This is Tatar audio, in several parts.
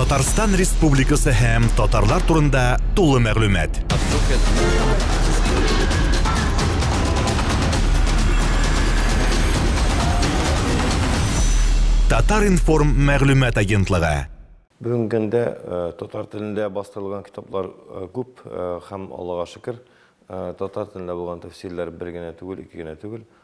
Татарстан Республикасы һәм татарлар турында тулы мәгълүмат. Татар-информ мәгълүмат агентлыгы. Бүгенге көндә э, татар телендә бастырылган китаплар э, күп э, һәм Аллага шөкер, татар телендә булган тәфсирләр бер генә түгел, ике генә түгел,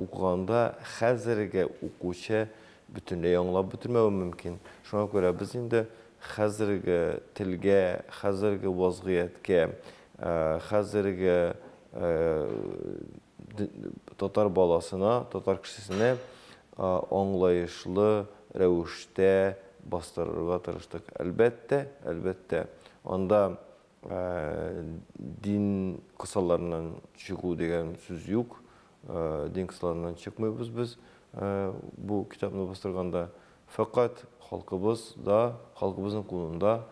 Укыганда хәзерге укучы бөтенләй аңлап бетермәве мөмкин. Шуңа күрә без инде хәзерге телгә, хәзерге вазгыятькә, хәзерге татар баласына, татар кешесенә аңлаешлы рәвештә бастырырга тырыштык. Әлбәттә, әлбәттә, анда Дин кысаларыннан чыгу дигән сүз юк. Дин кысаларыннан чыкмыйбыз без бу китапны бастырганда. Фәкать халкыбыз да, халкыбызның кулында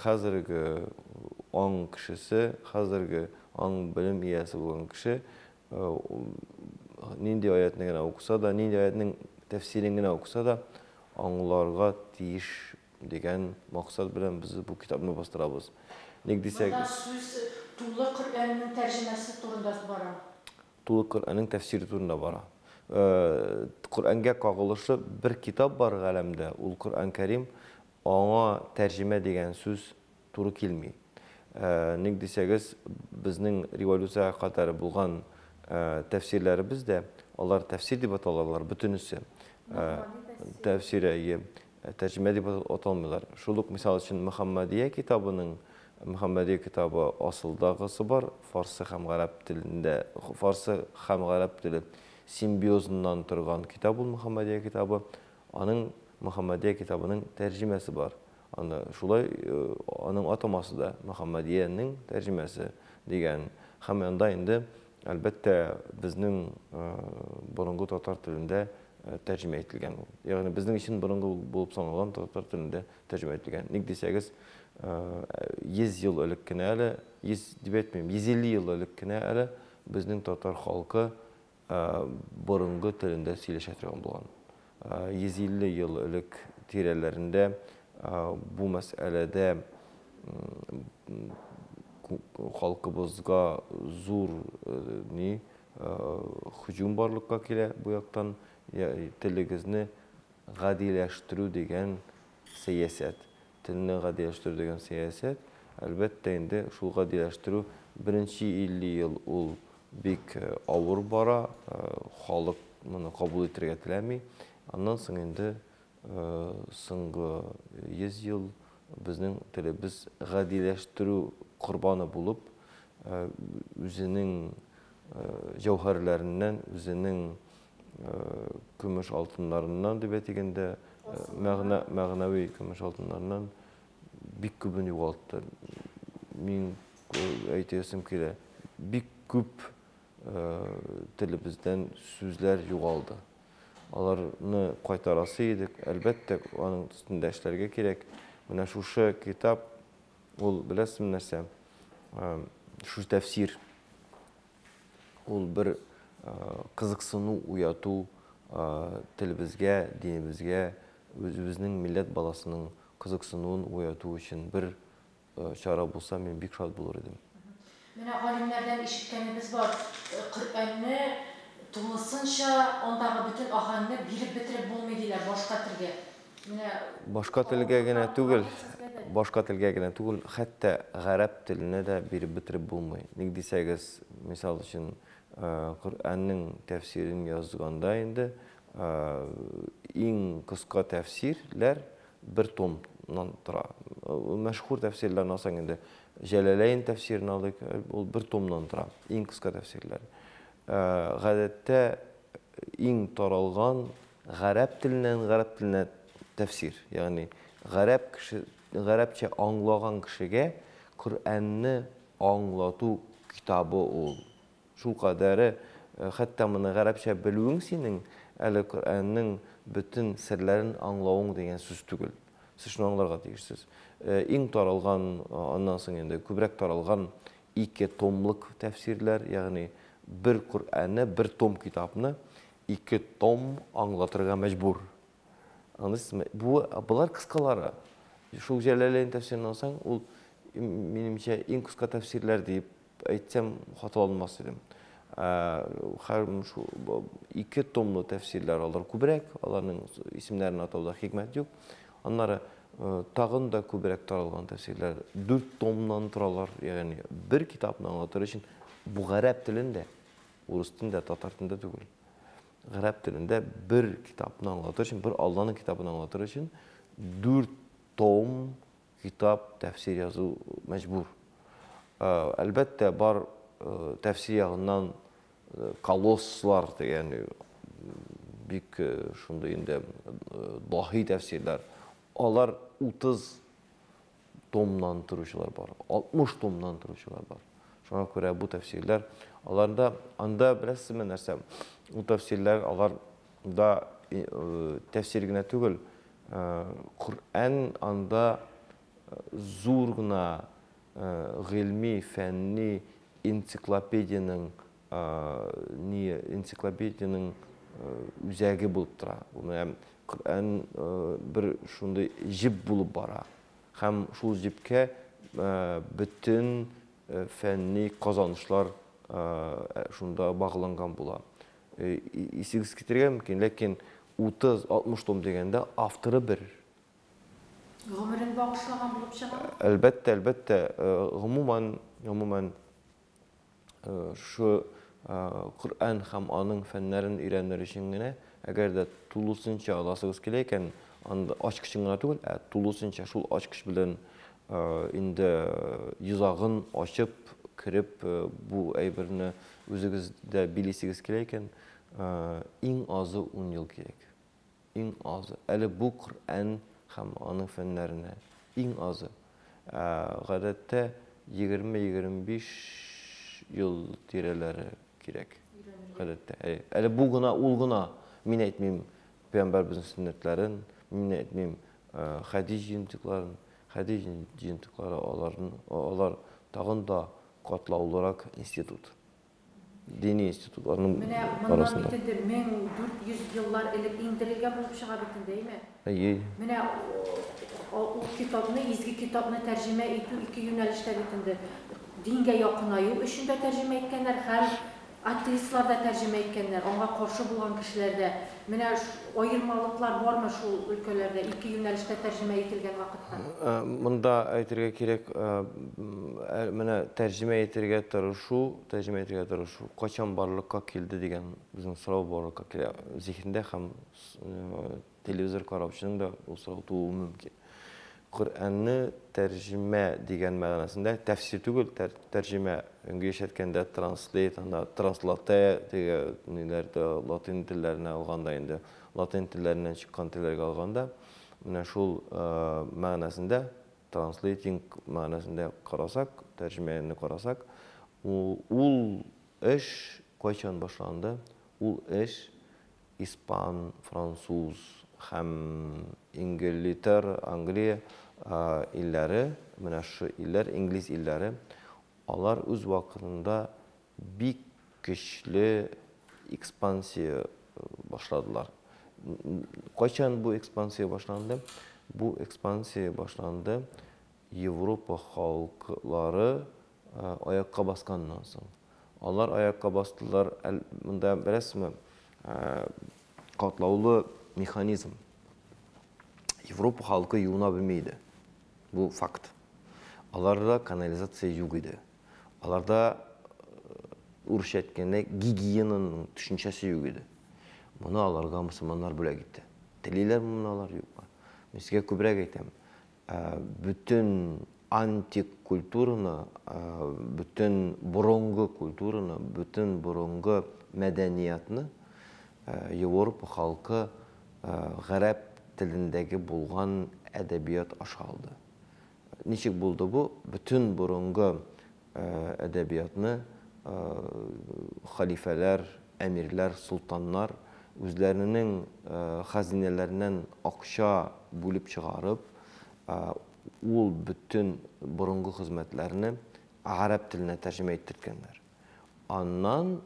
хәзерге аң кешесе, хәзерге аң белем иясе булган кеше нинди аятьне генә укыса да, нинди аятьнең тәфсирен генә укыса да, аңларга тиеш Дигән максат белән без бу китапны бастырабыз. Ник дисәк. Монда сүз Тулы Коръәннең тәрҗемәсе турында бара. Тулы Коръәннең тәфсире турында бара. Коръәнгә кагылышлы бер китап бар галәмдә, ул Коръән Кәрим, аңа тәрҗемә дигән сүз туры килми. Ник дисәгез, безнең революциягә кадәр булган тәфсирләребез дә, алар тәфсир дип аталалар, бөтенесе. Тәфсирә, ие, тәрҗемә дип аталмыйлар. Шул ук мисал өчен Мөхәммәдия китабының, Мөхәммәдия китабы асылдагысы бар, фарсы һәм гарәп телендә, фарсы һәм гарәп теле симбиозыннан торган китап ул Мөхәммәдия китабы. Аның Мөхәммәдия китабының тәрҗемәсе бар. Анда шулай аның атамасы да, Мөхәммәдиянең тәрҗемәсе дигән һәм анда инде, әлбәттә, безнең борынгы татар телендә тәрҗемә ителгән ул. Ягъни безнең өчен борынгы булып саналган татар телендә тәрҗемә ителгән. Ник дисәгез, 100 ел элек кенә әле, 100 дип әйтмим, 150 ел элек кенә әле безнең татар халкы борынгы телендә сөйләшә торган булган. 150 ел элек тирәләрендә бу мәсьәләдә халкыбызга зур ни һөҗүм барлыкка килә бу яктан телегезне гадиләштерү дигән сәясәт. Телне гадиләштерү дигән сәясәт, әлбәттә инде, шул гадиләштерү беренче 50 ел ул бик авыр бара, халык моны кабул итәргә теләми. Аннан соң инде соңгы 100 ел безнең телебез гадиләштерү корбаны булып, үзенең җәүһәрләреннән, үзенең көмеш алтыннарыннан дип әйтик инде, мәгънә, мәгънәви көмеш алтыннарыннан бик күбен югалтты. Мин әйтәсем килә, бик күп телебездән сүзләр югалды. Аларны кайтарасы идек, әлбәттә, аның өстендә эшләргә кирәк. Менә шушы китап, ул беләсезме нәрсә? Шушы тәфсир. Ул бер кызыксыну уяту телебезгә, динебезгә, үзебезнең милләт баласының кызыксынуын уяту өчен бер чара булса, мин бик шат булыр идем. Менә галимнәрдән ишеткәнебез бар, Коръәнне тулысынча, андагы бөтен аһәңне биреп бетереп булмый, диләр башка телгә. Башка телгә генә түгел, башка телгә генә түгел, хәтта гарәп теленә дә биреп бетереп булмый. Ник дисәгез, мисал өчен, Коръәннең тәфсирен язганда инде иң кыска тәфсирләр бер томнан тора. Мәшһүр тәфсирләрне алсаң инде, Җәләләйн тәфсирен алыйк, ул бер томнан тора, иң кыска тәфсирләр. Гадәттә иң таралган Гарәп теленнән гарәп теленә тәфсир, ягъни гарәп кеше, гарәпчә аңлаган кешегә Коръәнне аңлату китабы ул. Шул кадәре, хәтта моны гарәпчә белүең синең әле Коръәннең бөтен серләрен аңлавың дигән сүз түгел. Сез шуны аңларга тиешсез. Иң таралган, аннан соң инде күбрәк таралган ике томлык тәфсирләр, ягъни бер Коръәнне, бер том китапны Ике том аңлатырга мәҗбүр. Аныс ме? Бу болар кыскалары. Шул Җәләләйн тәфсирен алсаң, ул, минемчә, иң кыска тәфсирләр дип әйтсәм, хата алмас идем. Ә, хәр шул бу ике томлы тәфсирләр алар күбрәк, аларның исемнәрен атауда хикмәт юк. Аннары тагын да күбрәк таралган тәфсирләр дүрт томнан торалар, ягъни бер китапны аңлатыр өчен бу гарәп телендә Урыс телендә, татар телендә түгел. Гарәп телендә бер китапны аңлатыр өчен, бер Алланың китабын аңлатыр өчен 4 том китап тәфсир язу мәҗбүр. Э, әлбәттә, бар э, тәфсир ягыннан э, колосслар дигән бик шундый инде даһи тәфсирләр. Алар 30 томнан торучылар бар, 60 томнан торучылар бар. Шуңа күрә бу тәфсирләр, аларда, анда беләсезме нәрсә, ул тәфсирләр, алар да э, тәфсир генә түгел, э, Коръән анда э, зур гына гыйльми, фәнни энциклопедиянең ни энциклопедиянең үзәге булып тора. Бу менә Коръән бер шундый җеп булып бара. Һәм шул җепкә бөтен фәнни казанышлар шунда багланган була. Исегез китергә мөмкин, ләкин 30-60 том дигәндә авторы бер. Гомерен багышлаган булып чыгамы? Әлбәттә, әлбәттә. Гомумән, гомумән шушы Коръән һәм аның фәннәрен өйрәнер өчен генә, әгәр дә тулысынча аласыгыз килә икән, анда ачкычын гына түгел, ә тулысынча шул ачкыч белән инде йозагын ачып, кереп, бу әйберне үзегездә билисегез килә икән, иң азы ун ел кирәк. Иң азы, әле бу Коръән һәм аның фәннәренә, иң азы, гадәттә, егерме-егерме биш ел тирәләре кирәк. Гадәттә, әйе. Әле бу гына, ул гына. Мин әйтмим Пәйгамбәребезнең сөннәтләрен, мин әйтмим хәдис җыентыкларын. Хәдис җыентыклары, алар тагын да катлаулырак институт. дини институтларның Менә моннан арасында. бит инде 1400 еллар элек иңдерелгән булып чыга бит инде, әйме? Әйе. Менә ул китапны, изге китапны тәрҗемә итү ике юнәлештә бит инде. Дингә якынаю өчен дә тәрҗемә иткәннәр һәм атеистлар да тәрҗемә иткәннәр, аңа каршы булган кешеләр дә Менә аермалыклар бармы шул өлкәләрдә, ике юнәлештә тәрҗемә ителгән вакытта? Монда әйтергә кирәк, менә тәрҗемә итергә тырышу, тәрҗемә итергә тырышу кайчан барлыкка килде дигән безнең сорау барлыкка килә зиһендә һәм телевизор караучының да ул сорау тууы мөмкин. Коръәнне тәрҗемә дигән мәгънәсендә, тәфсир түгел, тәр тәрҗемә, өнге яшәрткәндә транслейт, анда транслатэ теге ниләр дә латин телләренә алганда инде, латин телләреннән чыккан телләргә алганда, менә шул мәгънәсендә, транслейтинг мәгънәсендә карасак, тәрҗемәне карасак, ул ул эш кайчан башланды? Ул эш Испан, француз һәм Ингелитер, Англия, илләре, менә шушы илләр, инглиз илләре, алар үз вакытында бик көчле экспансия башладылар. Кайчан бу экспансия башланды? Бу экспансия башланды Европа халыклары Аякка басканнан соң. Алар аякка бастылар. Монда беләсезме, катлаулы механизм. Европа халкы юына белми иде. Бу факт. Аларда канализация юк иде. Аларда урысча әйткәндә гигиенаның төшенчәсе юк иде. Моны аларга мусульманнар бүләк итте. Телиләрме моны алар, юкмы? Мин сезгә күбрәк әйтәм. Бөтен антик культураны, бөтен борынгы культураны, бөтен борынгы мәдәниятны Европа халкы гарәп телендәге булган әдәбият аша алды. Ничек булды бу? Бөтен борынгы Әдәбиятны хәлифәләр, әмирләр, солтаннар үзләренең хәзинәләреннән акча бүлеп чыгарып, ул бөтен борынгы хезмәтләрне гарәп теленә тәрҗемә иттертгәннәр. Аннан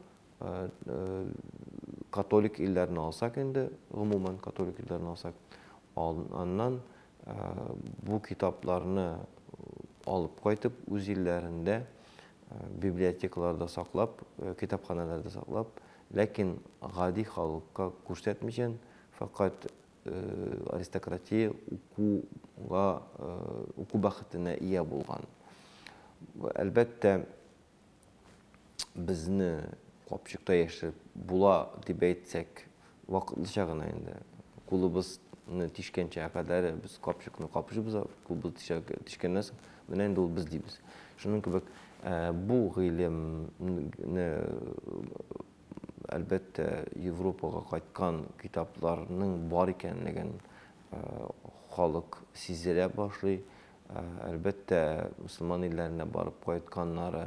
католик илләрне алсак инде, гомумән католик илләрне алсак, аннан Бу китапларны алып кайтып, үз илләрендә библиотекаларда саклап, китапханәләрдә саклап, ләкин гади халыкка күрсәтмичән, фәкать аристократия укуга, уку бәхетенә ия булган. Әлбәттә. Безне капчыкта яшереп була дип әйтсәк, вакытлыча гына инде. Кулыбызны тишкәнчә кадәр без капчыкны капчыбыз, кулыбыз тишкәннән соң, менә инде ул без дибез. Шуның кебек, бу гыйлемне, әлбәттә, Европага кайткан китапларның бар икәнлеген халык сиздерә башлый. Әлбәттә, мөселман илләренә барып кайтканнары,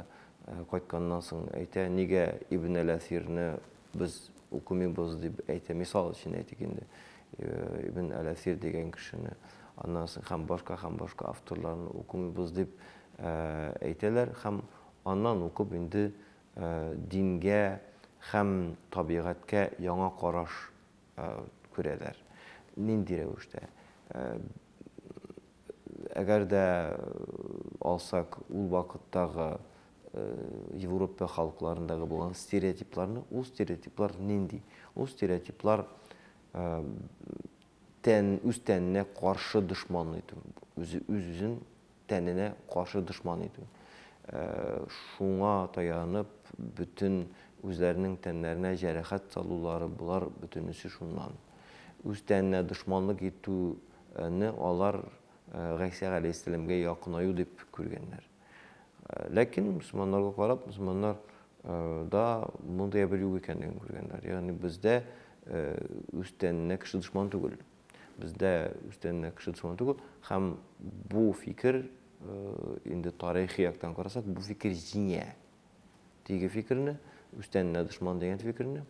кайтканнан соң әйтә, нигә Ибн әл-Әсирне без укымыйбыз дип әйтә. Мисал өчен әйтик инде, Ибн әл-Әсир дигән кешене, аннан соң һәм башка һәм башка авторларны укымыйбыз дип әйтәләр һәм аннан укып инде дингә һәм табигатькә яңа караш күрәләр. Нинди рәвештә? Әгәр дә алсак, ул вакыттагы Европа халыкларындагы булган стереотипларны, ул стереотиплар нинди? Ул стереотиплар тән, үз тәненә каршы дошман итү, үз-үзен тәненә каршы дошман итү. Шуңа таянып, бөтен үзләренең тәннәренә җәрәхәт салулары, болар бөтенесе шуннан. Үз тәненә дошманлык итү Ны алар Гайсә галәйһиссәламгә якынаю дип күргәннәр. Ләкин мөселманнарга карап, мөселманнар да мондый әйбер юк икәнлеген күргәннәр. Ягъни бездә үстәненә кеше дошман түгел. Бездә үстәненә кеше дошман түгел һәм бу фикер инде тарихи яктан карасак, бу фикер җиңә. теге фикерне, үстәненә дошман дигән фикерне,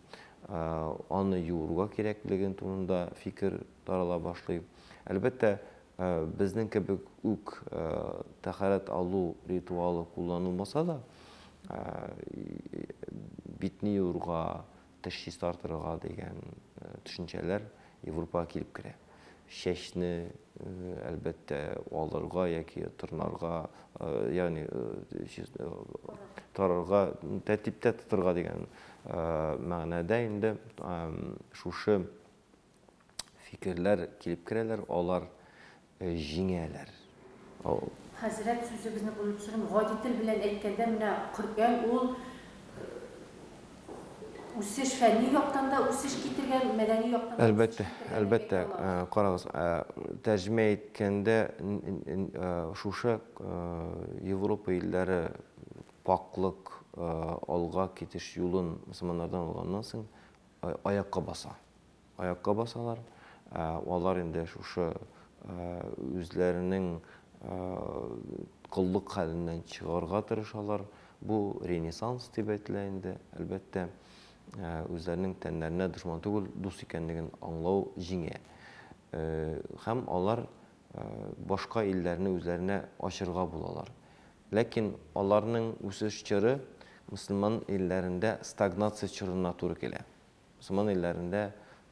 аны юырга кирәклеген турында фикер тарала башлый. Әлбәттә, безнең кебек үк тәхәрәт алу ритуалы кулланылмаса да, битне юырга, теш чистартырга дигән төшенчәләр Европага килеп керә. Чәчне Әлбәттә, алырга яки тырнарга, ягъни тарырга, тәртиптә тотырга дигән мәгънәдә инде шушы фикерләр килеп керәләр, алар җиңәләр. Хәзрәт, сүзегезне бүлеп төшерим, гади тел белән әйткәндә, менә Коръән ул Үсеш фәнни яктан да үсеш китергән, мәдәни яктан да үсеш китергән дип әйтә алабыз. Әлбәттә, әлбәттә. Карагыз, тәрҗемә иткәндә шушы Европа илләре пакълык, алга китеш юлын мөселманнардан алганнан соң аякка баса. аякка басалар, ә алар инде шушы үзләренең коллык хәленнән чыгарга тырышалар, бу ренессанс дип әйтелә инде, әлбәттә, үзләренең тәннәренә дошман түгел, дус икәнлеген аңлау җиңә. Һәм алар башка илләрне үзләренә ачырга булалар. Ләкин аларның үсеш чоры мөселман илләрендә стагнация чорына туры килә. Мөселман илләрендә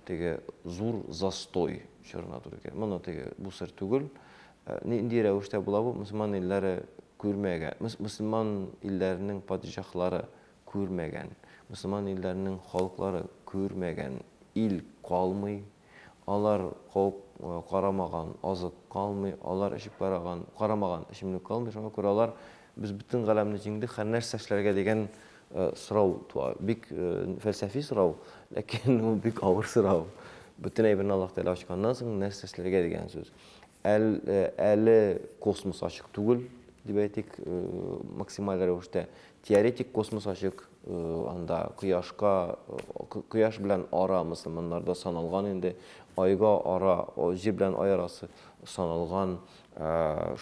теге зур застой чорына туры килә. Моны теге бу сер түгел. Э, нинди рәвештә була бу? Мөселман илләре күрмәгән, мөселман илләренең падишаһлары күрмәгән, мөселман илләренең халыклары күрмәгән ил калмый Алар куып карамаган азык калмый, алар эчеп караган, карамаган эчемлек калмый. Шуңа күрә алар без бөтен галәмне җиңдек, хәр нәрсә эшләргә дигән сорау туа. Бик фәлсәфи сорау, ләкин ул бик авыр сорау. Бөтен әйберне Аллаһ Тәгалә ачканнан соң, нәрсә эшләргә дигән сүз. Әл, әле космос ачык түгел, дип әйтик, максималь рәвештә. Теоретик космос ачык, Анда кояшка, кояш белән ара мөселманнарда саналган инде, айга ара, җир белән ай арасы саналган,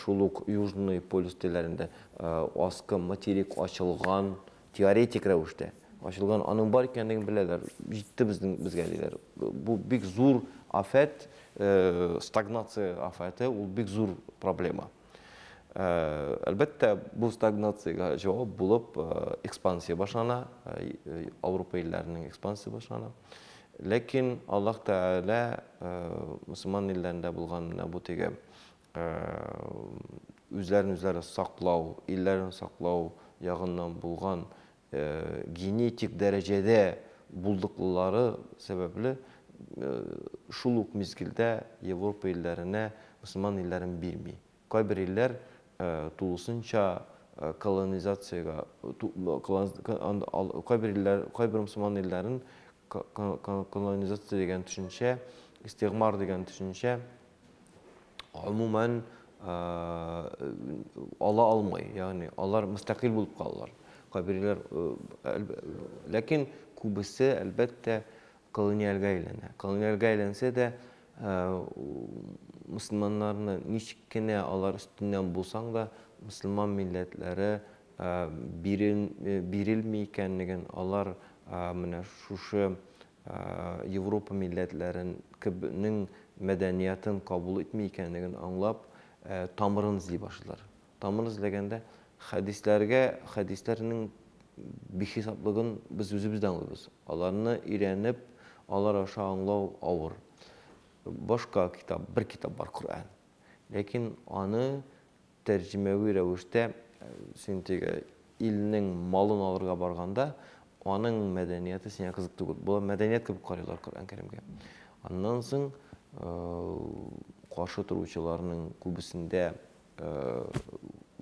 шул ук Южный полюс телләрендә аскы материк ачылган, теоретик рәвештә ачылган, аның бар икәнлеген беләләр, җитте безнең безгә диләр. Бу бик зур афәт, стагнация афәте, ул бик зур проблема. Әлбәттә, бу стагнациягә җавап булып экспансия башлана, Ауропа илләренең экспансия башлана. Ләкин Аллаһ Тәгалә мусульман илләрендә булган менә бу теге үзләрен үзләре саклау, илләрен саклау ягыннан булган генетик дәрәҗәдә булдыклылары сәбәпле, шул ук мизгелдә Европа илләренә мөселман илләрен бирми. Кайбер илләр тулысынча колонизациягә, кайбер илләр, кайбер мөселман илләрен колонизация дигән төшенчә, истигъмар дигән төшенчә, гомумән, ала алмый. Ягъни алар мөстәкыйль булып калалар. Кабиләләр, ләкин күбесе, әлбәттә, колониальгә әйләнә. Колониальгә әйләнсә дә, мөселманнарны ничек кенә алар өстеннән булсаң да, мөселман милләтләре бирелми икәнлеген алар менә шушы Европа милләтләрен кеб нең мәдәниятын кабул итми икәнлеген аңлап, тамырын эзли башлыйлар. Тамыр эзләгәндә, хәдисләргә, хәдисләр нең бихисаплыгын без үзебез дә аңлыйбыз. Аларны өйрәнеп, алар аша аңлау авыр. Башка китап, бер китап бар, Коръән. Ләкин аны Тәрҗемәви рәвештә, син теге илнең малын алырга барганда, аның мәдәнияте сиңа кызык түгел. Болар мәдәният кебек карыйлар Коръән-Кәримгә. Аннан соң каршы торучыларның күбесендә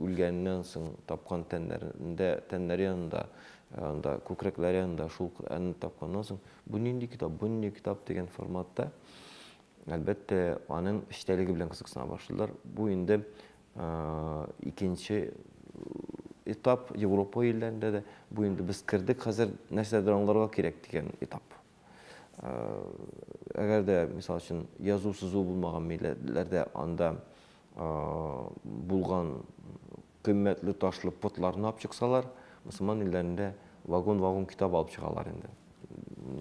үлгәннән соң тапкан тәннәрендә, тәннәре янында, анда күкрәкләре янында шул Коръәнне тапканнан соң, бу нинди китап, бу нинди китап дигән форматта Әлбәттә, аның эчтәлеге белән кызыксына башладылар. Бу инде икенче этап Европа илләрендә дә. Бу инде без кердек, хәзер нәрсәдер аңларга кирәк дигән этап. Әгәр дә, мисал өчен, язу-сызу булмаган милләтләрдә анда булган Кыйммәтле ташлы потларны алып чыксалар, мөселман илләрендә вагон-вагон китап алып чыгалар инде.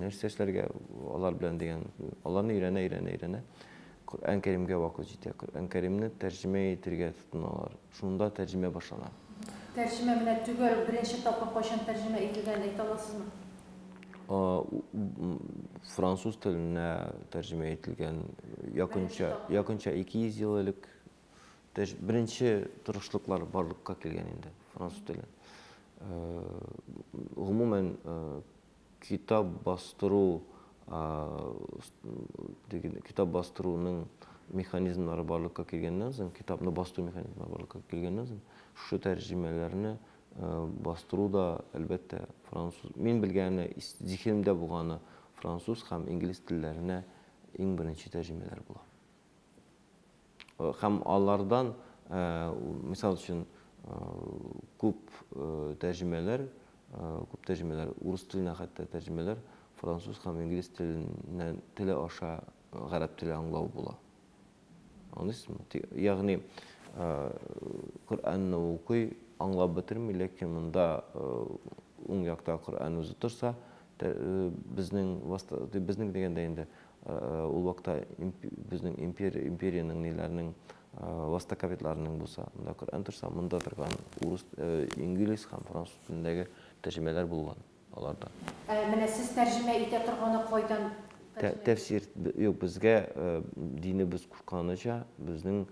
Нәрсә эшләргә алар белән дигән, аларны өйрәнә-өйрәнә-өйрәнә, Коръән Кәримгә вакыт җитә. Коръән Кәримне тәрҗемә итергә тотыналар. Шунда тәрҗемә башлана. Тәрҗемә менә төгәл беренче тапкыр кайчан тәрҗемә ителгәнен әйтә аласызмы? Француз теленә тәрҗемә ителгән якынча 200 ел элек. То есть беренче тырышлыклар барлыкка килгән инде француз теле. Гомумән, китап бастыру, китап бастыруның механизмнары барлыкка килгәннән соң, китапны басту механизмнары барлыкка килгәннән соң, шушы тәрҗемәләрне бастыру да, әлбәттә, француз. Мин белгәне, зихенемдә булганы француз һәм инглиз телләренә иң беренче тәрҗемәләр була. Һәм алардан, мисал өчен, күп тәрҗемәләр, күп тәрҗемәләр, урыс теленә хәтта тәрҗемәләр француз һәм инглиз теленнән, теле аша гарәп теле аңлау була. Аңлыйсызмы? Ягъни, Коръәнне укый, аңлап бетерми, ләкин монда уң якта Коръән үзе торса, Безнең васта, безнең дигәндә инде, ул вакытта безнең импер, империянең ниләрнең васта капитларының булса, монда Коръән торса, монда торган урыс, инглиз һәм француз телендәге тәрҗемәләр булган аларда. Ә менә сез тәрҗемә итә торганы кайдан? Тәфсир, юк, безгә динебез кушканыча, безнең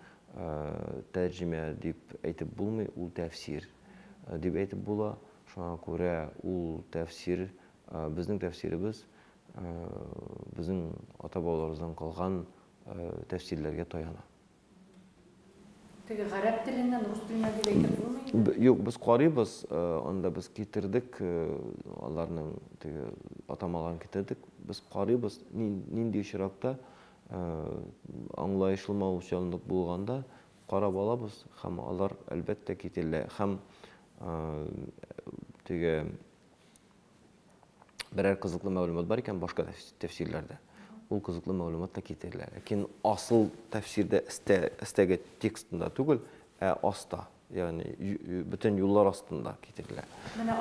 тәрҗемә дип әйтеп булмый, ул тәфсир. Дип әйтеп була. Шуңа күрә ул тәфсир, безнең тәфсиребез, безнең ата-бабаларыбыздан калган тәфсирләргә таяна. Теге гарәп теленнән, рус теленнән дип әйтеп булмый инде? Юк, без карыйбыз, анда без китердек, аларның теге атамаларын китердек. Без карыйбыз, нинди очракта аңлаешлы малчанлык булганда, Карап алабыз һәм алар әлбәттә кителә һәм теге берәр кызыклы мәгълүмат бар икән башка тәфсирләрдә ул кызыклы мәгълүмат та китерелә. Ләкин асыл тәфсирдә өстәге текстында түгел, ә аста, ягъни бөтен юллар астында китерелә. Менә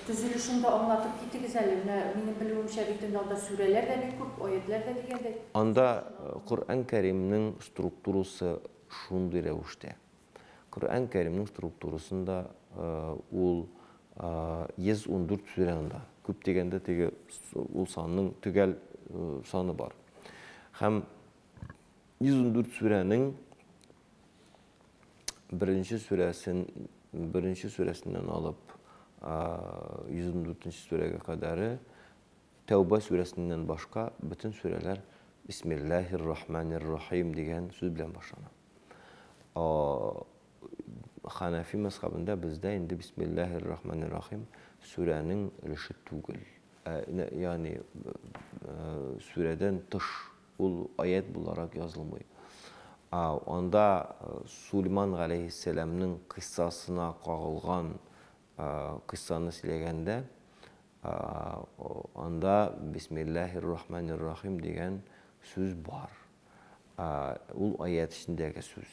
төзелешен дә аңлатып китегез әле. Менә минем белүемчә бит инде анда сүрәләр дә бик күп, аятьләр дә дигәндәй. Анда Коръән Кәримнең Структурасы шундый рәвештә. Коръән Кәримнең структурасында ул 114 сүрә анда. Күп дигәндә теге ул санның төгәл саны бар. Һәм 114 сүрәнең беренче сүрәсен беренче сүрәсеннән алып 114 сүрәгә кадәре Тәүба сүрәсеннән башка бөтен сүрәләр Бисмиллаһир рахманир рахим дигән сүз белән башлана. Ханафи мәзхәбендә бездә инде Бисмиллаһир рахманир рахим сүрәнең өлеше түгел. Ә, ягъни сүрәдән тыш ул аят буларак язылмый. Анда Сулейман галәйһиссәламның кыйссасына кагылган Кыйссаны сөйләгәндә, анда Бисмиллаһи ррахмани ррахим дигән сүз бар. Ул аять эчендәге сүз.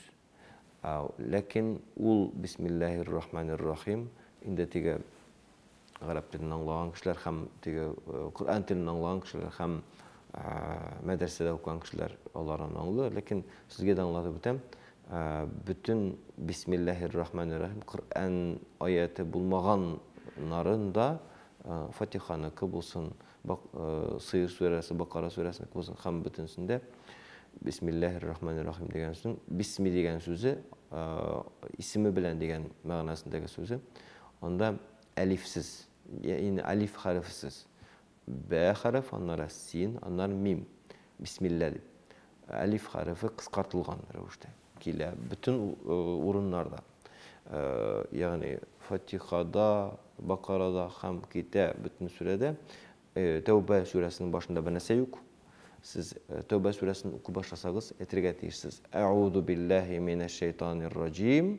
Ләкин ул Бисмиллаһи ррахмани ррахим инде теге гарәп телен аңлаган кешеләр һәм теге Коръән телен аңлаган кешеләр һәм мәдрәсәдә укыган кешеләр аларны аңлый. Ләкин сезгә дә аңлатып үтәм, Бөтен бисмилләһир-рахманир-рәхим, Коръән аяте булмаган нарын да Фатиханыкы булсын, Сыер сүрәсе, Бакара сүрәсенеке булсын, һәм бөтенсендә бисмилләһир-рахманир-рәхим дигән сүзен, бисми дигән сүзе, исеме белән дигән мәгънәсендәге сүзе, анда әлифсез, ягъни алиф хәрефесез Бә хәреф, аннары син, аннары мим. Бисмилла дип. Әлиф хәрефе кыскартылган рәвештә килә бөтен урыннарда. Ягъни Фатихада, Бакарада һәм китә бөтен сүрәдә. Тәүбә сүрәсенең башында бер нәрсә юк. Сез Тәүбә сүрәсен укып башласагыз, әйтергә тиешсез. Әгъузу биллаһи минәш шәйтанир раҗим.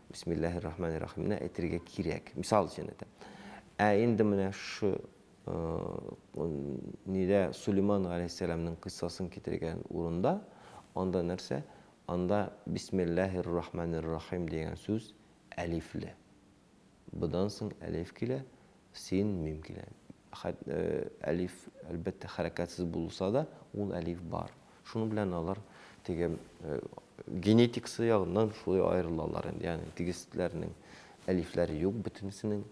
Бисмиллаһир рахманир рахимне әйтергә кирәк. Мисал өчен әйтәм. Ә инде менә шушы э, нидә Сулейман галәйһиссәламның кыйссасын китергән урында анда нәрсә? Анда бисмиллаһир рахманир рахим дигән сүз әлифле. Будан соң әлиф килә, Син, мин килә. Хәт, э, әлиф, әлбәттә, хәрәкәтсез булса да, ул әлиф бар. Шуның белән алар теге, э, генетикасы ягыннан шулай аерылалар инде. Ягъни тегесләрнең әлифләре юк бөтенесенең.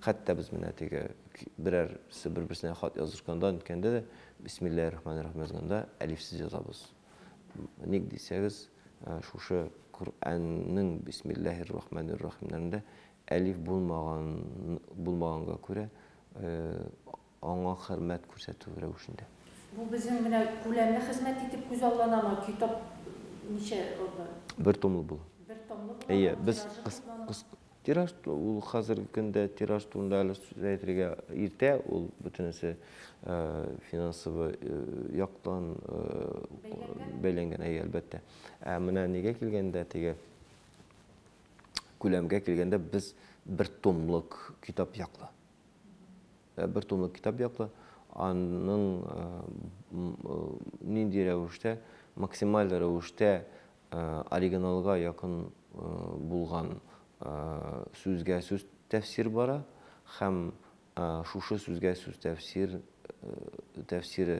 Хәтта без менә теге берәрсе бер-берсенә хат язышканда, ниткәндә дә Бисмиллаһи рахмани рахим язганда әлифсез язабыз. Ник дисәгез, э, шушы Коръәннең Бисмиллаһи рахмани рахимнәрендә Әлиф булмаган булмаганга күрә, аңа хөрмәт күрсәтү рәвешендә. Бу безнең менә күләмле хезмәт итеп күзалланамы? Китап ничә рда? Бер томлы була. Бер томлы була. Әйе, без кыс кыс тираж ул хәзерге көндә тираж турында әле сүз әйтергә иртә, ул бөтенесе финансовый яктан бәйләнгән, әйе, әлбәттә. Ә менә нигә килгәндә, теге күләмгә килгәндә без бер томлык китап яклы. Э, бер томлык китап яклы. Аның э, э, нинди рәвештә, максималь рәвештә оригиналга якын булган сүзгә сүз тәфсир бара һәм шушы сүзгә сүз тәфсир тәфсире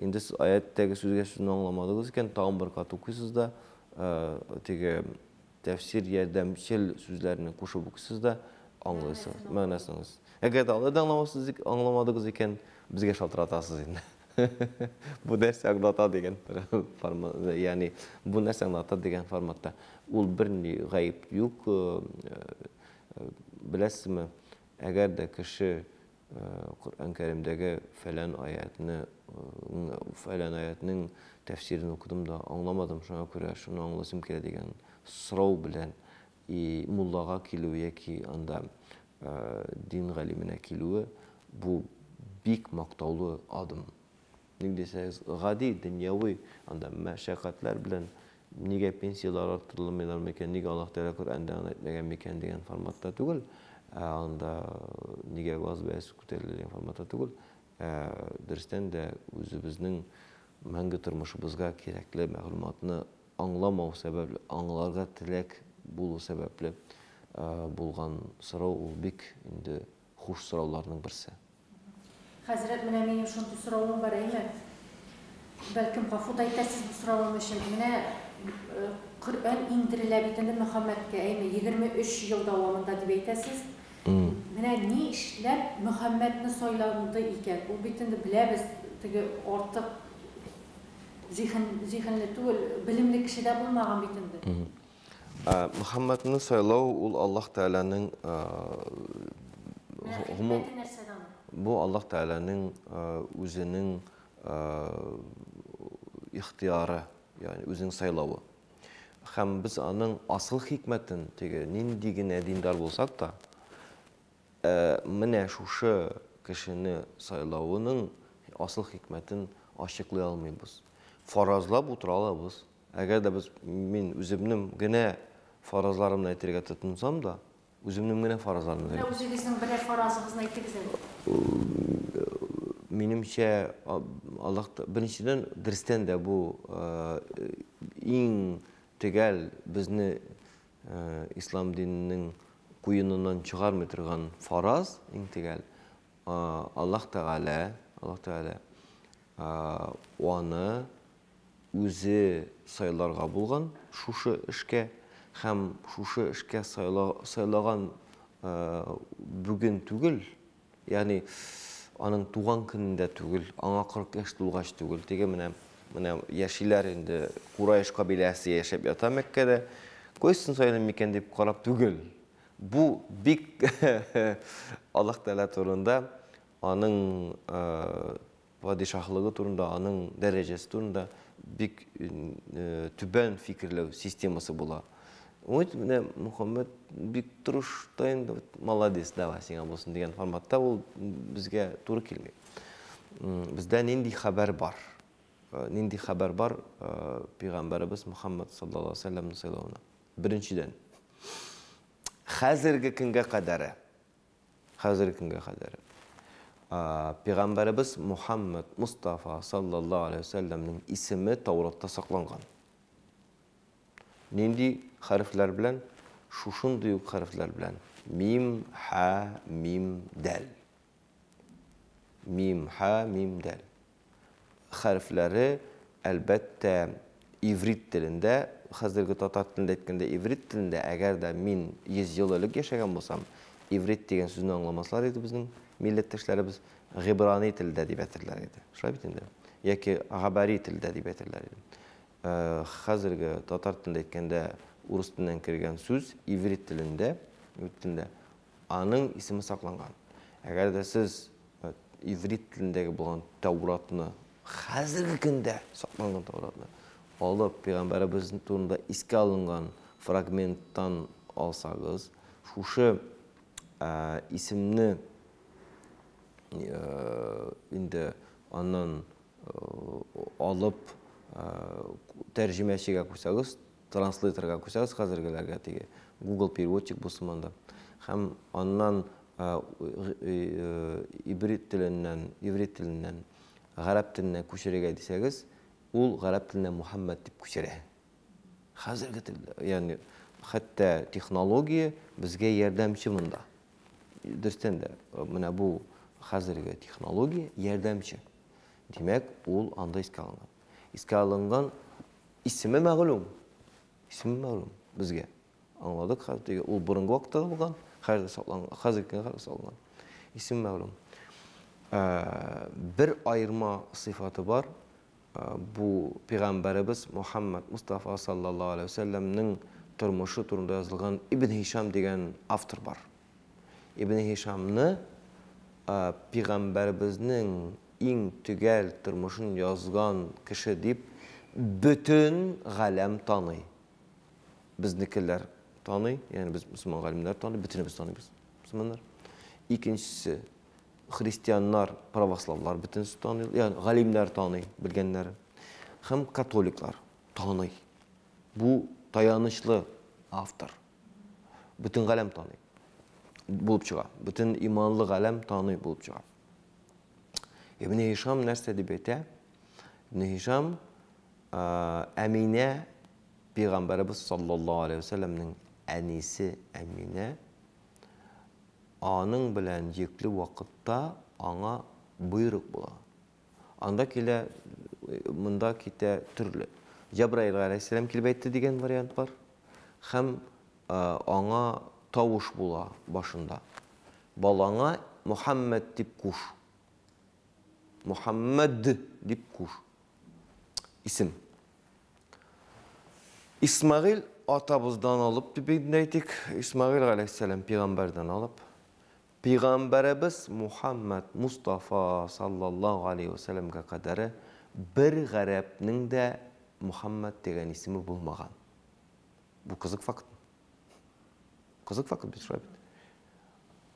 Инде сез аятьтәге сүзгә сүзне аңламадыгыз икән, тагын бер кат укыйсыз да, теге тәфсир ярдәмчел сүзләрне кушып укыйсыз да, аңлыйсыз, мәгънәсен аңлыйсыз. Әгәр дә алай да аңламасыз, аңламадыгыз икән, безгә шалтыратасыз инде. Бу нәрсә аңлата дигән формат, ягъни бу нәрсә аңлата дигән форматта. Ул берни гаеп юк. Беләсезме, әгәр дә кеше Коръән Кәримдәге фәлән аятны, фәлән аятның тәфсирен укыдым да, аңламадым, шуңа күрә шуны аңласым килә дигән сорау белән и муллага килү яки анда дин галименә килүе бу бик мактаулы адым. ник дисәгез, гади, дөньяви анда мәшәкатьләр белән нигә пенсияләр арттырылмыйлар микән, нигә Аллаһ Тәгалә Коръәндә аны әйтмәгән микән дигән форматта түгел, ә анда нигә газ бәясе күтәрелә дигән форматта түгел, ә дөрестән дә үзебезнең мәңге тормышыбызга кирәкле мәгълүматны аңламау сәбәпле, аңларга теләк булу сәбәпле булган сорау, ул бик инде Хуш сорауларның берсе. Хәзрәт, менә минем шундый соравым бар, әйме? Бәлкем, гафу да итәрсез бу соравым өчен. Менә Коръән иңдерелә бит инде Мөхәммәдкә, әйме, егерме өч ел дәвамында дип әйтәсез. Менә ни эшләп Мөхәммәдне сайланды икән? Ул бит инде, беләбез, теге артык зиһен, зиһенле түгел, белемле кеше дә булмаган бит инде. Ә, Мөхәммәдне сайлау ул Аллаһ Тәгаләнең ә, гомум Мәхәббәте нәрсәдә аның? бу Аллаһ Тәгаләнең ә, үзенең ә, ихтыяры, ягъни үзенең сайлавы. Һәм без аның асыл хикмәтен, теге нинди генә диндар булсак та, ә, менә шушы кешене сайлавының асыл хикмәтен ачыклый алмыйбыз. Фаразлап утыра алабыз, Әгәр дә без, мин үземнем генә фаразларымны әйтергә тотынсам да, үземнем генә фаразларымны генә. Менә үзегезнең берәр фаразыгызны әйтегез әле. Минемчә, Аллаһ беренчедән дөрестән дә бу иң төгәл безне ислам диненең куеныннан чыгармый торган фараз, иң төгәл. Аллаһ Тәгалә, Аллаһ Тәгалә аны үзе сайларга булган шушы эшкә һәм шушы эшкә сайлаган бүген түгел, ягъни аның туган көнендә түгел, аңа 40 яшь тулгач түгел, теге менә менә яшиләр инде, Кураеш кабиләсе яшәп ята Мәккәдә, кайсын сайлыйм микән дип карап түгел. Бу бик Аллаһ Тәгалә турында аның Падишаһлыгы турында, аның дәрәҗәсе турында бик түбән фикерләү системасы була. Вот менә Мөхәммәт бик тырыш та инде, молодец, давай сиңа булсын дигән форматта ул безгә туры килми. Бездә нинди хәбәр бар? Нинди хәбәр бар пәйгамбәребез Мөхәммәд саллаллаһу алейһи ва сәлләмне Беренчедән, хәзерге көнгә кадәре Хәзерге көнгә кадәр Пәйгамбәребез Мухаммәд Мостафа салләллаһу галәйһи ва сәлләмнең исеме Тауратта сакланган. Нинди хәрефләр белән? Шушындый ук хәрефләр белән, мим, һә, мим, дәл. Мим, һә, мим, дәл. хәрефләре, әлбәттә, иврит телендә, хәзерге татар телендә әйткәндә, иврит телендә, әгәр дә мин 100 ел элек яшәгән булсам, иврит дигән сүзне аңламаслар иде безнең милләттәшләребез, гибрани телдә дип әйтерләр иде. Шулай бит инде? Яки габари телдә дип әйтерләр иде. Хәзерге татар телендә әйткәндә, урыс теленнән кергән сүз иврит телендә, иврит телендә Аның исеме сакланган. Әгәр дә сез иврит телендәге булган Тәуратны, хәзерге көндә сакланган Тәуратны алып, пәйгамбәребез турында искә алынган фрагменттан алсагыз, шушы исемне инде аннан алып тәрҗемәчегә куйсагыз, транслейторга күчәбез хәзергеләргә теге Google переводчик булсын монда. Һәм аннан ибрит теленнән, иврит теленнән гарәп теленә күчерергә дисәгез, ул гарәп теленә Мухаммад дип күчерә. Хәзерге тел, ягъни хәтта технология безгә ярдәмче монда. Дөрестән дә, менә бу хәзерге технология ярдәмче. Димәк, ул анда искә алынган. Искә алынган исеме мәгълүм. Исеме мәгълүм безгә. Аңладык хәзер теге ул борынгы вакытта булган, хәзер сакланган, хәзер кенә сакланган. Исем мәгълүм. Ә, бер аерма сыйфаты бар. Ә, бу пигамбәребез Мухаммад Мустафа саллаллаһу алейхи ва саллямның тормышы турында язылган Ибн Хишам дигән автор бар. Ибне Һишамны пигамбәребезнең иң төгәл тормышын язган кеше дип бөтен галәм таный. Безнекеләр таный, ягъни без мөселман галимнәр таный, бөтенебез таныйбыз мөселманнар. Икенчесе христианнар, православлар бөтенесе таный, ягъни галимнәр таный, белгәннәр. Һәм католиклар таный. Бу таянычлы автор. бөтен галәм таный булып чыга. Бөтен иманлы галәм таный булып чыга. Ибн Һишам нәрсә дип әйтә? Ибн Һишам Әминә пәйгамбәрбез саллаллаһу алейхи ва әнисе Әминә аның белән йөкле вакытта аңа боерык була. Анда килә, монда китә, төрле. Җәбраил галәйһиссәлам килеп әйтте дигән вариант бар. Һәм аңа тавыш була башында. Балаңа Мухаммәд дип куш. Мухаммәд дип куш. Исем. Исмагил атабыздан алып дип әйтик, Исмагил галәйһиссәлам пигамбәрдән алып, Пигамбәребез Мухаммәд Мустафа саллаллаһу галәйһи вә сәлләмгә кадәре бер гарәпнең дә Мухаммәд дигән исеме булмаган. Бу кызык факт. Кызык факт бит шулай бит.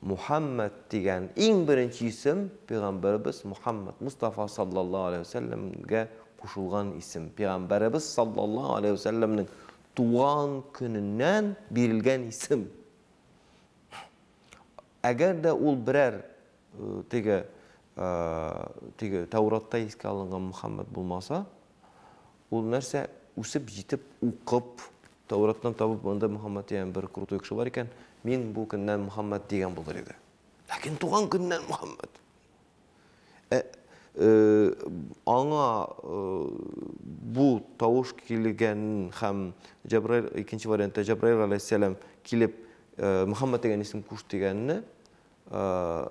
Мухаммәд дигән иң беренче исем пигамбәребез Мухаммәд Мустафа саллаллаһу галәйһи вә сәлләмгә кушылган исем. Пигамбәребез саллаллаһу галәйһи вә сәлләмнең туган көненнән бирелгән исем. Әгәр дә ул берәр теге, теге Тәүратта искә алынган Мөхәммәд булмаса, ул нәрсә, үсеп җитеп, укып, Тәүраттан табып, монда Мөхәммәд дигән бер крутой кеше бар икән, мин бу көннән Мөхәммәд дигән булыр иде. Ләкин туган көннән Мөхәммәд! Ә, э, аңа э, бу тавыш килгәнен һәм Җәбраил, икенче вариантта Җәбраил галәйһиссәлам килеп, э, Мөхәммәд дигән исем куш дигәнне, э,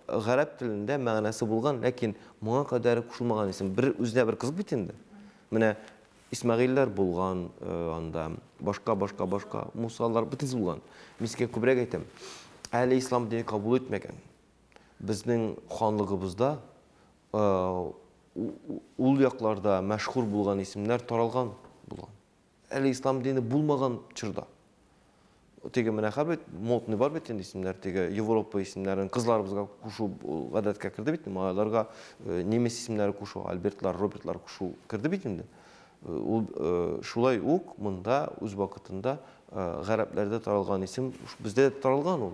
гарәп телендә мәгънәсе булган, ләкин моңа кадәр кушылмаган исем. Бер үзенә бер кызык бит инде. Менә Исмәгыйльләр булган э, анда, башка, башка, башка, Мусалар бөтенесе булган. Мин сезгә күбрәк әйтәм. Әле ислам дине кабул итмәгән. Безнең ханлыгыбызда ул якларда мәшһүр булган исемнәр таралган булган. Әле ислам дине булмаган чорда. Теге менә хәбит модный бар бит инде исемнәр, теге Европа исемнәрен кызларыбызга кушу гадәткә керде бит, малайларга э, немец исемнәре кушу, Альбертлар, Робертлар кушу керде бит инде. Э, ул э, шулай ук монда үз вакытында гарәпләрдә таралган исем, бездә таралган ул.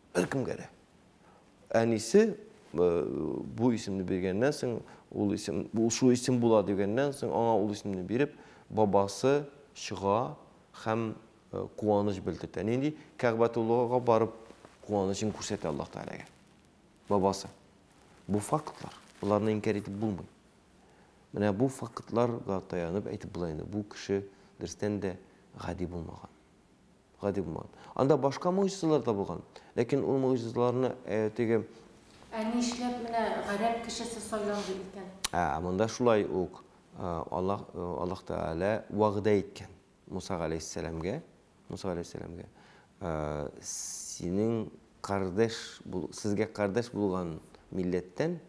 Беркемгә дә. Әнисе бу исемне биргәннән соң, ул исем, ул шул исем була дигәннән соң, аңа ул исемне биреп, бабасы чыга һәм куаныч белдертә. Нинди Кәгъбәтуллага барып куанычын күрсәтә Аллаһ Тәгаләгә. Бабасы. Бу фактлар. Боларны инкәр итеп булмый. Менә бу фактларга таянып әйтеп була инде. Бу кеше дөрестән дә гади булмаган. Гади булмаган. Анда башка могҗизалар да булган. Ләкин ул могҗизаларны теге Ә нишләп менә гарәп кешесе сайланды икән? Ә, монда шулай ук Аллаһ Аллаһ Тәгалә вәгъдә иткән Муса галәйһиссәламгә, Муса галәйһиссәламгә, синең кардәш бул, сезгә кардәш булган милләттән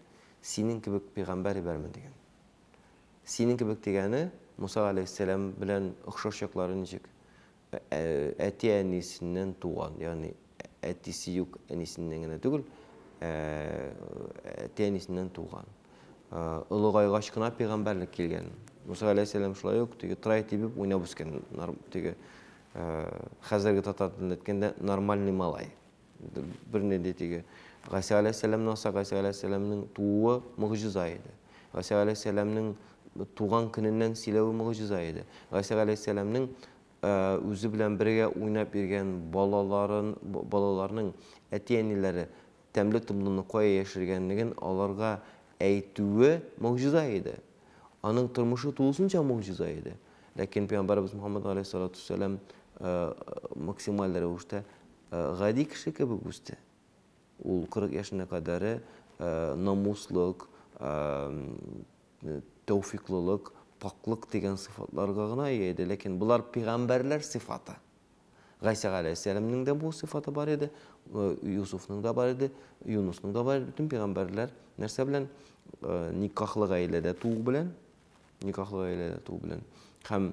синең кебек пәйгамбәр ибәрмен дигән. Синең кебек дигәне Муса галәйһиссәлам белән охшаш яклары ничек? Әти-әнисеннән туган, ягъни әтисе юк, әнисеннән генә түгел, әти-әнисеннән туган. Олыгайгач кына пәйгамбәрлек килгән. Муса галәйһиссәлам шулай ук теге трай тибеп уйнап үскән, теге хәзерге татар телендә әйткәндә нормальный малай. бернинди теге Гайса галәйһиссәламне алса, Гайса галәйһиссәламнең тууы могҗиза иде. Гайса галәйһиссәламнең туган көненнән сөйләве могҗиза иде. Гайса галәйһиссәламнең үзе белән бергә уйнап йөргән балаларын, балаларның әти-әниләре тәмле томлыны кая яшергәнлеген аларга әйтүе могҗиза иде. Аның тормышы тулысынча могҗиза иде. Ләкин пәйгамбәрбез Мөхәммәд галәйһиссалату вассалам максималь рәвештә Гади кеше кебек үсте. Ул кырык яшенә кадәре намуслык, тәүфиклылык, пакълык дигән сыйфатларга гына ия иде, ләкин болар пигамбәрләр сыйфаты. Гайсә галәйһиссәламнең дә бу сыйфаты бар иде, Юсуфның да бар иде, Юнысның да бар иде. Бөтен пигамбәрләр нәрсә белән? Никахлы гаиләдә туу белән, никахлы гаиләдә туу белән һәм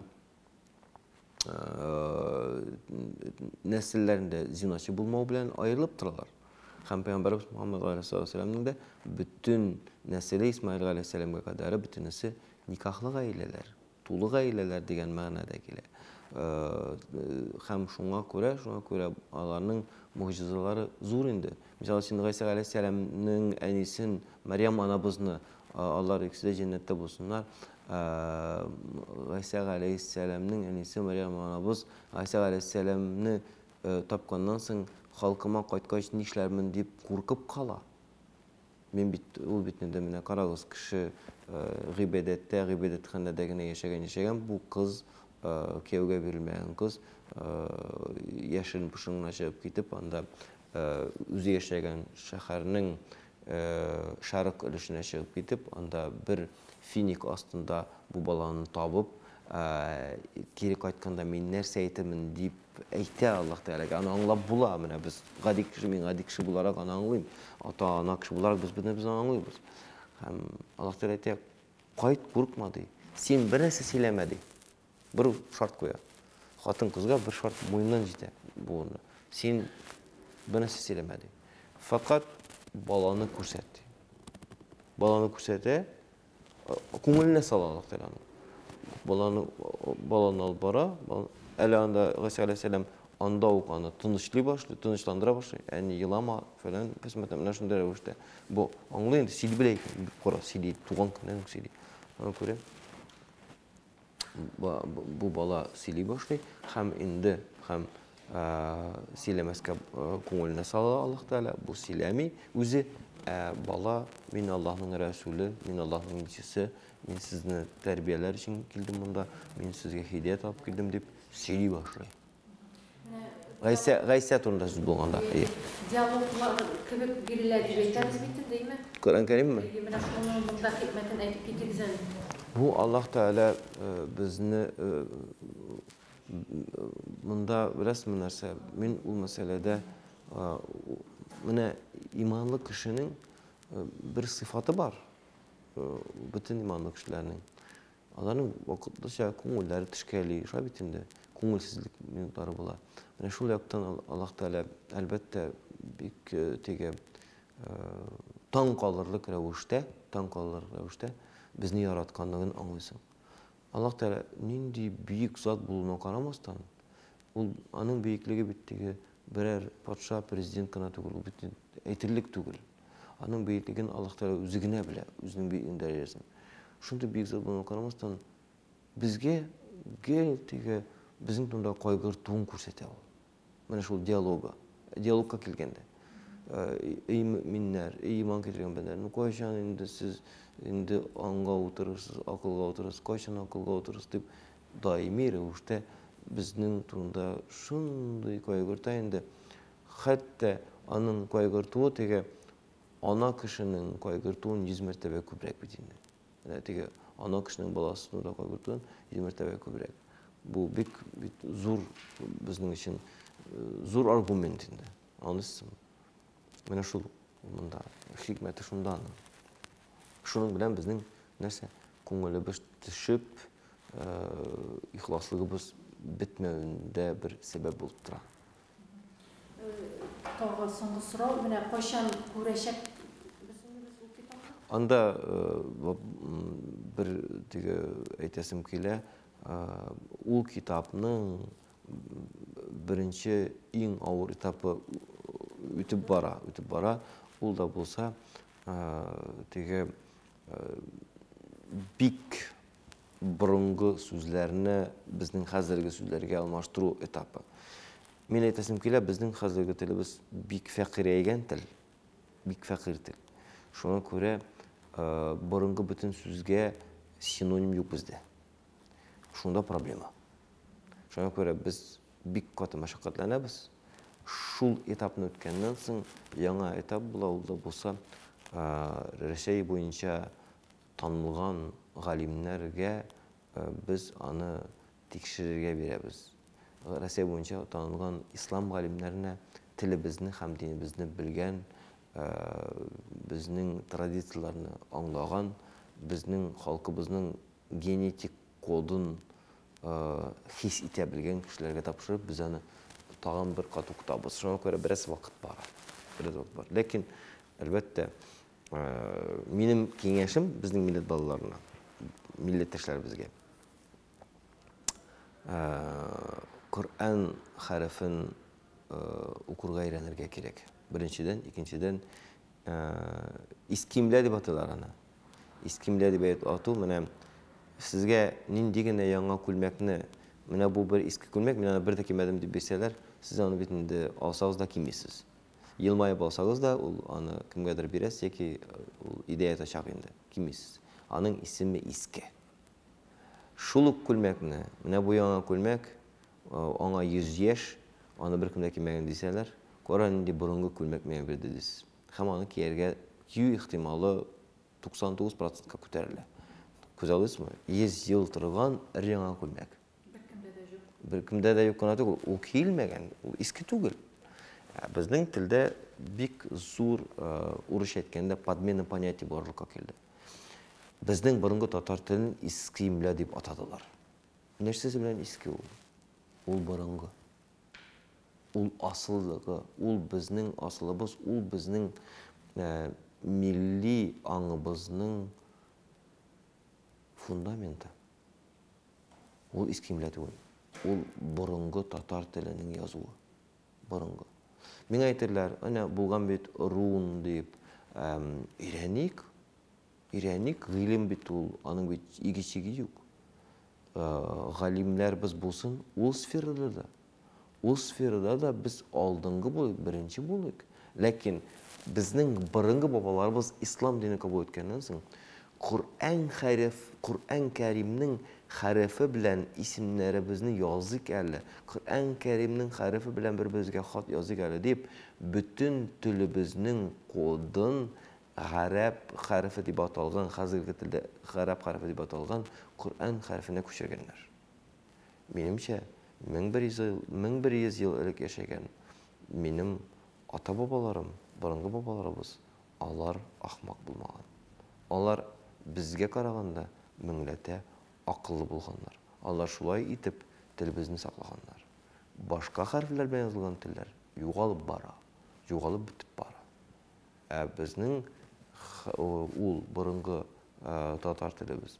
нәселләрендә зиночы булмау белән аерылып торалар. Хәм пәйгамбәрбез Мөхәммәд галәйһиссәламнең дә бүтүн нәселе Исмаил галәйһиссәламгә кадәр бүтүнесе никахлы гаиләләр, тулы гаиләләр дигән мәгънәдә килә. Хәм шуңа күрә, шуңа күрә аларның мөгъҗизалары зур инде. Мисал өчен Гайса галәйһиссәламнең әнисен Мәриям анабызны алар икесе дә җәннәттә булсыннар. Гайсә галәйһиссәламнең әнисе Мәрьям анабыз Гайсә галәйһиссәламне тапканнан соң, халкыма кайткач нишләрмен дип куркып кала. Мин бит, ул бит инде менә карагыз, кеше гыйбадәттә, гыйбадәтханәдә генә яшәгән, яшәгән бу кыз, кияүгә бирелмәгән кыз, яшерен пошын гына чыгып китеп, анда үзе яшәгән шәһәрнең Шәрык өлешенә чыгып китеп, анда бер финик астында бу баланы табып, кире кайтканда мин нәрсә әйтермен дип әйтә Аллаһ Тәгаләгә. Аны аңлап була. Менә без гади кеше, мин гади кеше буларак аны аңлыйм. Ата-ана кеше буларак без бер без аңлыйбыз. Һәм Аллаһ Тәгалә әйтә, кайт, курыкма ди. Син бер нәрсә сөйләмә ди. Бер шарт куя. Хатын кызга бер шарт муеннан җитә буынны. Син бер нәрсә сөйләмә ди. Факат баланы күрсәт ди. Баланы күрсәтә, күңеленә сала Аллаһ Тәгаләнең. Баланы баланы алып бара, әле анда Гыйса алейһиссәлам анда ук аны тынычлый башлый, тынычландыра башлый. Әни елама, фәлән, кысмәтем, менә шундый рәвештә. Бу аңлый инде, сөйли белә икән, бик кара, сөйли, туган көннән үк сөйли. Аны күрә. бу бала сөйли башлый һәм инде һәм сөйләмәскә күңеленә сала Аллаһ Тәгалә, бу сөйләми. Үзе бала, мин Аллаһның рәсүле, мин Аллаһның илчесе, мин сезне тәрбияләр өчен килдем монда, мин сезгә һидәят алып килдем дип сөйли башлый. Гайсә, Гайсә турында сүз булганда. Диалоглар кебек бирелә дип әйтәбез бит инде, әйме? Коръән Кәримме? Әйе, менә шуның монда хикмәтен әйтеп китегез әле. Бу Аллаһ Тәгалә безне монда беләсезме нәрсә? Мин ул мәсьәләдә менә иманлы кешенең бер сыйфаты бар. Бөтен иманлы кешеләрнең. Аларның вакытлыча күңелләре тешкәли, шулай бит инде, күңелсезлек минутлары була. Менә шул яктан Аллаһ Тәгалә, әлбәттә, бик э, теге э, таң калырлык рәвештә, таң калырлык рәвештә безне яратканлыгын аңлыйсың. Аллаһ Тәгалә нинди бөек зат булуына карамастан, ул аның бөеклеге бит теге берәр патша, президент кына түгел, ул бит әйтерлек түгел. Аның бөеклеген Аллаһ Тәгалә үзе генә белә, үзенең бөеклеген дәрәҗәсен. Шундый бөек зат булуына карамастан, безгә гел теге безнең турында кайгыртуын күрсәтә ул. Менә шул диалогы. Диалогка килгәндә. Эй мөминнәр, эй иман китерген бәндәләр, ну кайчан инде сез инде аңга утырырсыз, акылга утырырсыз, кайчан акылга утырырсыз дип даими рәвештә безнең турында шундый кайгырта инде. Хәтта аның кайгыртуы теге ана кешенең кайгыртуын йөз мәртәбә күбрәк бит инде. Менә теге ана кешенең баласын уйлап кайгыртуын йөз мәртәбә күбрәк. Бу бик бит зур безнең өчен зур аргумент инде. Анысы менә шул монда хикмәте шунда аның. Шуның белән безнең нәрсә күңелебез төшеп, ихласлыгыбыз бетмәвендә бер сәбәп булып тора. Тагы соңгы сорау, менә кайчан күрәчәк Анда э, бер теге әйтәсем килә, ул китапның беренче иң авыр этапы үтеп бара, үтеп бара. Ул да булса, теге бик борынгы сүзләрне безнең хәзерге сүзләргә алмаштыру этапы. Мин әйтәсем килә, безнең хәзерге телебез бик фәкыйрәйгән тел, бик фәкыйрь тел. Шуңа күрә э, борынгы бөтен сүзгә синоним юк бездә. Шунда проблема. Шуңа күрә без бик каты мәшәкатьләнәбез. Шул этапны үткәннән соң яңа этап була, ул да булса э, Рәсәй буенча Танылган галимнәргә без аны тикшерергә бирәбез. Россия буенча танылган ислам галимнәренә телебезне һәм динебезне белгән, безнең традицияләрне аңлаган, безнең халкыбызның генетик кодын хис итә белгән кешеләргә тапшырып, без аны тагын бер кат укытабыз. Шуңа күрә бераз вакыт бара. Бераз вакыт бара. Ләкин, әлбәттә, Э, минем киңәшем безнең милләт балаларына, милләттәшләребезгә. Э, Коръән хәрефен э, укырга өйрәнергә кирәк. Беренчедән, икенчедән, искимлә дип атыйлар аны. Искимлә дип әйтеп ату, менә сезгә нинди генә яңа күлмәкне, менә бу бер иске күлмәк, мин аны бер дә кимәдем дип бирсәләр, сез аны бит инде алсагыз да кимисез. Елмаеп алсагыз да, ул аны кемгәдер бирәсез яки ул идәя ятачак инде, кимисез. Аның исеме Иске. Шул ук күлмәкне, менә бу яңа күлмәк, аңа 100 яшь, аны беркем дә кимәгән дисәләр, кара нинди борынгы күлмәк миңа бирде дисез. Һәм аны кияргә кию ихтималы 99 процентка күтәрелә. Күзаллыйсызмы? 100 ел торган өр-яңа күлмәк. Беркемдә дә юк. Беркемдә дә юк кына түгел, ул киелмәгән, ул иске түгел. Ә безнең телдә бик зур урысча әйткәндә подмена понятия барлыкка килде. Безнең борынгы татар телен иске имля дип атадылар. Нәрсәсе белән иске ул? Ул борынгы. Ул асыллыгы, ул безнең асылыбыз, ул безнең ә, милли аңыбызның фундаменты. Ул иске имля түгел. Ул борынгы татар теленең язуы. Борынгы. Миңа әйтерләр, әнә булган бит рун дип, өйрәник, өйрәник, гыйлем бит ул, аның бит иге-чиге юк. Галимнәрбез булсын, ул сферада да Ул сферада да без алдынгы булыйк, беренче булыйк. Ләкин безнең борынгы бабаларыбыз ислам динен кабул иткәннән соң, Коръән хәреф, Коръән Кәримнең хәрефе белән исемнәребезне языйк әле, Коръән Кәримнең хәрефе белән бер-беребезгә хат языйк әле дип, бөтен телебезнең кодын, гарәп хәрефе дип аталган, хәзерге телдә гарәп хәрефе дип аталган Коръән хәрефенә күчергәннәр. Минемчә, 1100 ел элек яшәгән минем ата-бабаларым, борынгы бабаларыбыз, алар ахмак булмаган. Алар безгә караганда меңләтә акыллы булганнар. Алар шулай итеп телебезне саклаганнар. Башка хәрефләр белән язылган телләр югалып бара, югалып бетеп бара. Ә безнең ул борынгы татар телебез